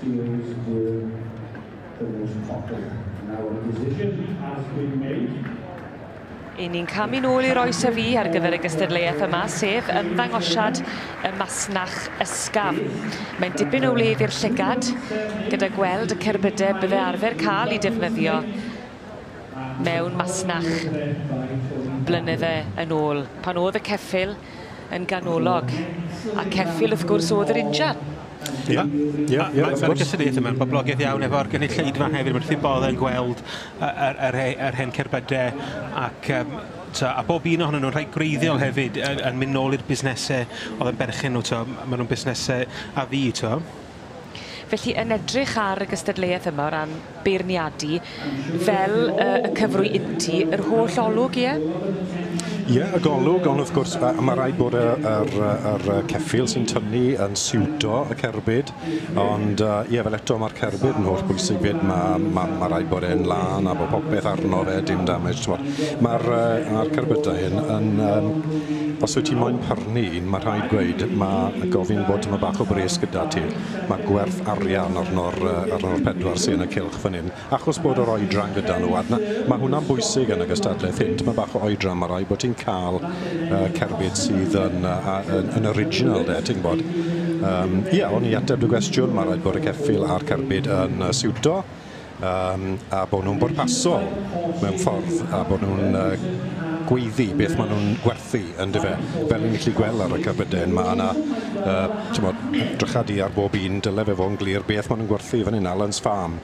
Series will the most popular. Now a decision has been made. Yn ni'n camu nôl i'r oes a fu ar gyfer y gystadleuaeth yma, sef ymddangosiad y masnach ysgafn. Mae'n dipyn o wledd i'r llygad, gyda gweld y cerbydau bydde arfer cael i defnyddio mewn masnach blynydde yn ôl, pan oedd y ceffyl yn ganolog. A ceffyl, wrth gwrs, oedd yr injan. Ie, ie, ie. Mae'n ffordd gysyddiaeth yma, boblogaidd iawn efo'r gynulleidfa hefyd, mae'n ffyn bodd yn gweld yr, yr, yr hen cerbydau ac um, to, a bob un ohonyn nhw'n rhai gwreiddiol hefyd yn, yn mynd nôl i'r busnesau oedd yn berchen nhw, to, maen nhw'n busnesau a fi, to. Felly, yn edrych ar y gystadleuaeth yma o ran beirniadu, fel y, y cyfrwy inti, yr holl olwg, ie? Ie, y golwg, ond wrth gwrs, a, a mae rhaid bod yr, yr, yr ceffil sy'n tynnu yn siwto y cerbyd, ond uh, ie, fel eto mae'r cerbyd yn holl bwysig fyd, mae, mae, mae rhaid bod e'n lân a bod popeth arno fe, dim damage, ti'n bod. Mae'r, uh, mae'r cerbydau hyn yn, um, os wyt ti moyn pyrnu, Mae rhaid gweud, mae gofyn bod tyma bach o bres gyda ti. Mae gwerth arian arno'r arno'r pedwar sy'n y cylch fan hyn. Achos bod yr oedran gyda nhw, a dyna, mae hwnna'n bwysig yn y gystadlaeth hyn, tyma bach o oedran, mae rhaid bod ti'n cael uh, cerbyd sydd yn, uh, yn, yn original de, ti'n gwybod. Um, ia, o'n i ateb dy gwestiwn, mae rhaid bod y ceffil a'r cerbyd yn uh, siwto. yym a bo' nw'n bwrpasol mewn ffordd a bo' nw'n yy gweiddi beth ma' nw'n gwerthu yndyfe? Fel ni'n gallu gwel' ar y cerbydau ma' 'na yy t'mod drycha du ar bob un dyle fe fo' yn glir beth ma' nw'n gwerthu fan 'yn Allen's Farm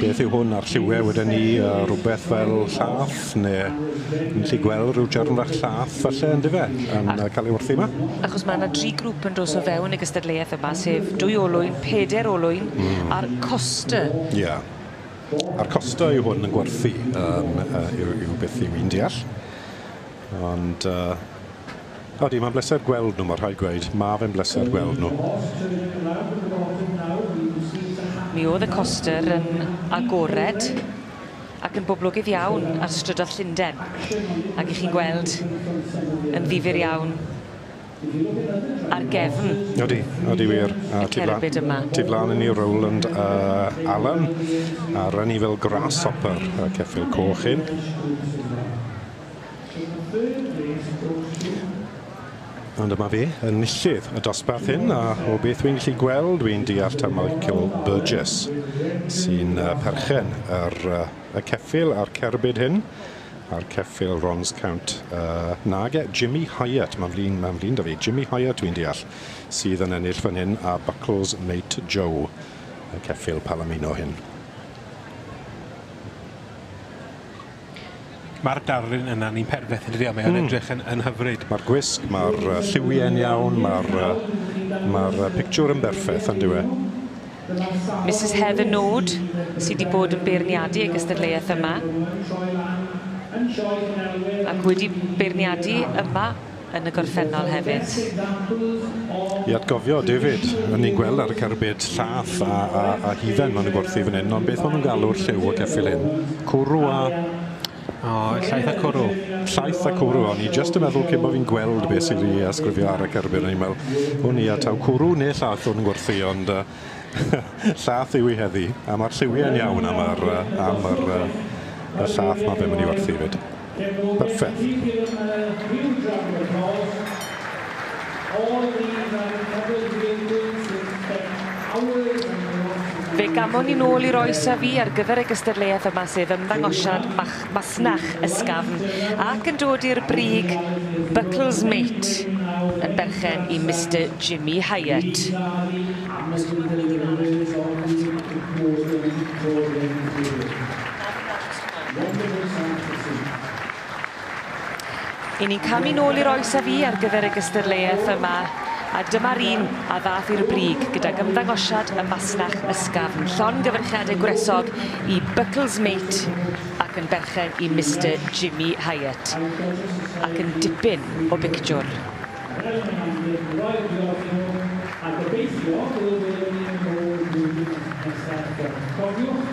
beth yw hwn a'r lliwie weden i yy rwbeth fel llath? ne' yn gallu gweld ryw jarn fach llath falle yndyfe yn yy ca'l ei wrthi 'ma. Achos ma' 'na dri grŵp yn dos o fewn y gystadleuaeth yma sef dwy olwyn, peder olwyn... Hmm. ...a'r coster. Ie. A'r coster yw hwn yn gwerthu yym yy yw yw beth yw i'n deall. Ond yy odi ma'n bleser gweld nw ma' rhaid gweud ma' fe'n bleser gweld nw. Mi o'dd y coster yn agored. ac yn boblogydd iawn ar strydodd Llunden ag i chi'n gweld yn ddifyr iawn ar gefn Odi, odi wir. A tu flan... cerbyd yma. Tu flan i ni Rowland a Alan a run ni fel grasshopper y ceffyl coch hyn. Ond dyma fi, enillydd y dosbarth hyn, a o beth wy'n gallu gweld, wy'n deall taw Michael Burgess sy'n uh, perchen ar uh, y ceffyl a'r cerbyd hyn, a'r ceffyl Rons Count. Uh, nage, Jimmy Hyatt, mae'n flin, mae'n flin da fi. Jimmy Hyatt, wy'n deall, sydd yn ennill fan hyn, a Buckles Mate Joe, y ceffyl Palomino hyn. Ma'r darlun yna yn un perfeth yndydi a mae o'n edrych yn yn hyfryd. Ma'r gwisg, ma'r yy lliwie'n iawn, ma'r yy ma'r yy pictiwr yn berffeth on'd yw e? Misus Heather Nord sy 'di bod yn beirniadu y gystadleuaeth yma ac wedi beirniadu yma yn y gorffennol hefyd. I atgofio David, o'n ni'n gweld ar y cerbyd llath a, a, a hufen maen nhw'n gwerthu fan hyn, ond beth maen nhw'n galw'r lliw y ceffyl hyn? Cwrw a... O, llaeth a cwrw. Llaeth a cwrw, o'n i jyst yn meddwl cyn bo fi'n gweld beth sydd i asgrifio ar y cerbyd, o'n i'n meddwl, o'n i a taw cwrw neu llath o'n gwerthu, ond uh, llath yw i heddi, a mae'r lliwiau'n iawn am yr, uh, am yr, uh, y llath mae fe'n mynd i werthu fyd. Fe gamon ni nôl i'r oes a fu ar gyfer y gystadleuaeth yma sef ymddangosiad mach- masnach ysgafn ac yn dod i'r brig Buckles Mate yn berchen i Mister Jimmy Hyatt. I ni'n camu nôl i'r oes a fu ar gyfer y gystadleuaeth yma, a dyma'r un a ddath i'r brig gydag ymddangosiad y masnach ysgafn, llongyfarchiadau gwresog i Buckles Mate ac yn berchen i Mister Jimmy Hyatt. Ac yn dipyn o bictiwr. Wel, mae'n amlwg, mi roedd yn ddiolchio, a gobeithio byddwn ni'n mynd yn ôl i'r flwyddyn nesaf, cofiwch,